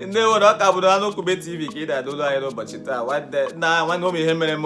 ndị nwere ọka bụrụ anụ kwube tv ka ị na-adụlụ anyị n'ụbọchị taa nwanne nna nwanne ụmụ ihe mere m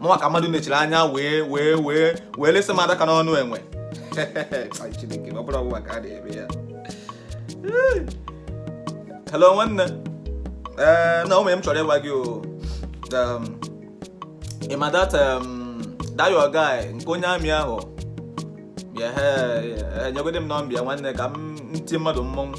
mụnwa ka mmadụ mechiri anya wee wee wee wee lesa m adaka n'ọnụ enwe Chineke, ọ bụrụ ọbụla ka a na-eme ya hello nwanne ee na o nwe ihe m chọrọ ịgwa gị o Um, ị ma that um, that your guy nke onye army ahụ ya he nyegode m nọmba ya nwanne ka m tie mmadụ mmọnwụ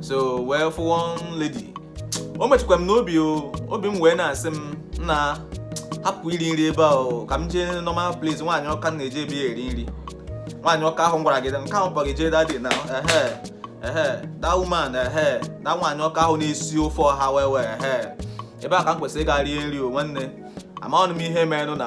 so wee fụ one lady o metụkwa m n'obi o obi m wee na-asị m nna hapụ iri nri ebe ahụ ka m jee normal place nwaanyị ọka m na-eje be ya eri nri nwaanyị ọka ahụ m gwara gị nke ahụ kpọrọ gị jee that day na ehe ehe that woman ehe that nwaanyị ọka ahụ na-esi ofe ọha well well ehe ebe a ka m kwesịrị ịga rie nri o nwanne amaghị m ihe merenụ na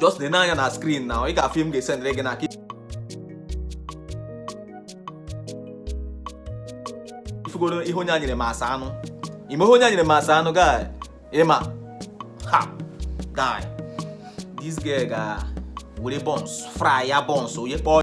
just na-ene anya na screen na ị ga-afụ ihe m ga-esendịrị gị n'aka ị fụgoro ihe onye a nyere m as anụ ị ma ihe onye a nyere m as anụ guy ị ma ha guy this girl ga were buns fry ya buns onye kpọọ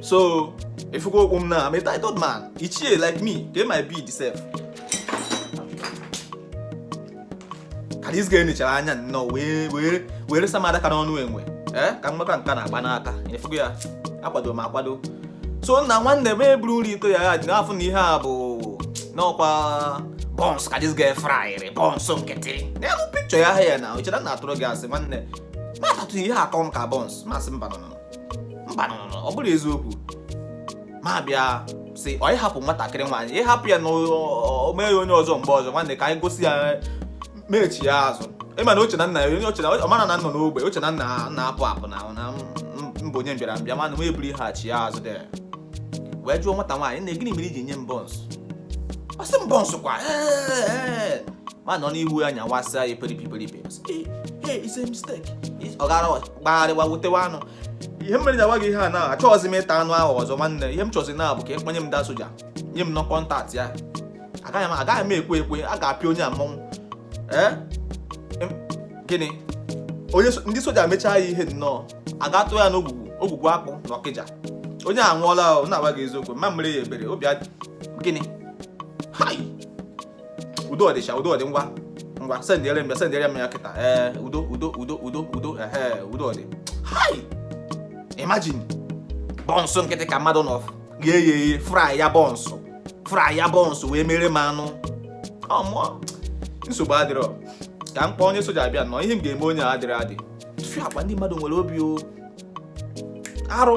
so ị fụgokwa m na I'm a titled man ichie like me get my bead sef ka this girl nechara anya nnọọ wee wee wee resa m adaka n'ọnụ enwe ee ka mgbaka nke a na-agba n'aka ị fụgo ya akwado m akwado so nna nwanne m eburu nri ito ya ya ji n'afọ na ihe a bụ nnọọ kwa buns ka this girl fraịrị buns nkịtị n'elu picture ya here na o chere na atụrụ gị asị nwanne m atatụ ihe a ọ tọ m ka buns m asị mba no mba ọ bụrọ eziokwu m abịa sị o ị hapụ nwatakịrị nwaanyị ị hapụ ya na o mee ya onye ọzọ mgbe ọzọ nwanne ka anyị gosi ya m echie azụ ị ma na o che na nna ya onye o che na ọ marọ na m nọ n'ogbe o che na m na-apụ apụ na na m bụ onye mbịara mbịa mana m eburu ihe a chie azụ dị wee jụọ nwata nwaanyị nne gịnị mere i ji nye m buns ọ sị m buns kwa m anọ n'ihu ya nyawasịa ya peripi peripi ọ gara gbagharịwa butewa anụ ihe mere m na-agwa gị ihe a na achọghịzi m ịta anụ ahụ ọzọ nwanne ihe m chọzi now bụ ka ị kpanye m that soja nye m nnọọ contact ya agaghị m ekwe ekwe a ga-apịa onye a mmọnwụ ee gịnị onye ndị soja mechaa ya ihe nnọọ a ga-atụ ya n'ogwugwu ogwugwu akpụ na ọkịja onye a nwụọla na-agwa gị eziokwu m ma emere ya ebere obi gịnị udo ọdịcha udo ọdị ngwa ngwa sendịere m ya sendịere m ya kịta ee eh, udo udo udo udo udo ehe udo ọdị hai imagine bọnsụ nkịtị ka mmadụ nọ ghee ya eghe fry ya bọnsụ fry ya bọnsụ wee mere m anụ ọmụọ oh, nsogbu adịrọ ka m kpọọ onye soja abịa nọ ihe m ga-eme onye a adịrị adị tụfịakwa ndị mmadụ nwere obi o arụ